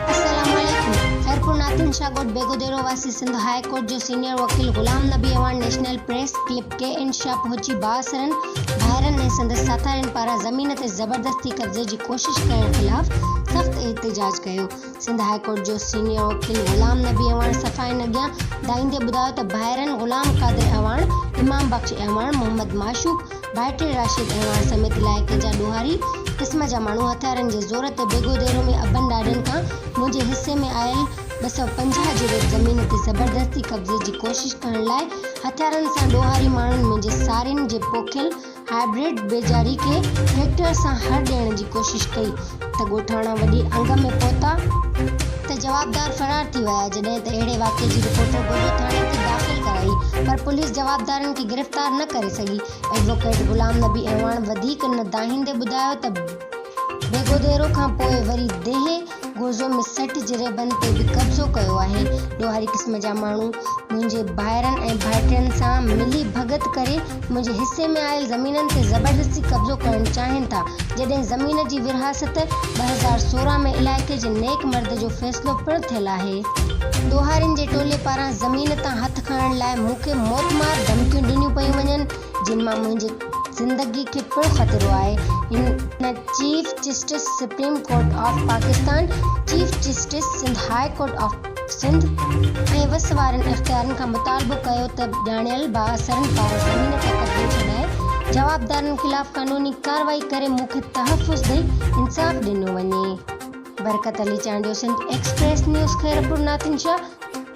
السلام عليڪم خيرپور ناتون شاھ ڳوٺ بيگو ديرو واسي سنڌ هاء ڪورٽ جو سينيئر وڪيل غلام نبي ايوان national press club K N Shah پهچي بااثرن ڀائرن ۽ سندس ساٿارين پاران زمين تي زبردستي قبضي جي ڪوشش ڪرڻ خلاف سخت احتجاج ڪيو سنڌ هاء ڪورٽ جو سينيئر وڪيل غلام نبي اعواڻ صفائين اڳيان ڏائيندي ٻڌايو ته ڀائرن غلام قادر اعواڻ، امام بخش اعواڻ، محمد معشوق، ڀائٽي راشد اعواڻ سميت علائقي جا ڏوهاري قسم جا ماڻهو هٿيارن جي زور تي بيگو ديرو ۾ ابن ڏاڏن کان منهنجي حصي ۾ آيل ٻه سؤ پنجاهه جي ريٽ زمين تي زبردستي قبضي جي ڪوشش ڪرڻ لاء هٿيارن سان ڏوهاري ماڻهن منهنجي سارين جي پوکيل هائبرڊ بيجاري کي ٽريڪٽر سان هر ڏيڻ جي ڪوشش ڪئي ته ڳوٺاڻا وڏي انگ ۾ پهتا ته جوابدار فرار ٿي ويا جڏهن ته اهڙي واقعي جي رپورٽ گوجو ٿاڻي تي داخل ڪرائي پر پوليس جوابدارن کي گرفتار نه ڪري سگهي ايڊووڪيٽ غلام نبي اعواڻ وڌيڪ نه دانهيندي ٻڌايو ته ڀيگوديرو کان پوء وري ديهه گوزو ۾ سيٺ جريبن تي به قبضو ڪيو آهي. ڏوهاري قسم جا ماڻهو منهنجي ڀائرن ۽ ڀائٽين سان ملي ڀڳت ڪري منهنجي حصي ۾ آيل زمينن تي زبردستي قبضو ڪرڻ چاهين ٿا. جڏهن زمين جي ورهاست ٻه هزار سورهن ۾ علائقي جي نيڪ مرد جو فيصلو پڻ ٿيل آهي. ڏوهارين جي ٽولي پاران زمين تان هٿ کڻڻ لاء مون کي موتمار ڌمڪيون ڏنيون پيون وڃن جن مان منهنجي زندگي کي پڻ خطرو آهي هن chief justice supreme court of Pakistan, chief justice Sindh high court of Sindh ۽ وس وارن اختيارين کان مطالبو ڪيو ته ڄاڻايل بااثرن پاران زمين تي قبضو ڇڏائي جوابدارن خلاف قانوني ڪارروائي ڪري مون کي تحفظ ڏئي انصاف ڏنو وڃي. Barkat Ali Chandio Sindh Express News Khairpur Nathan Shah.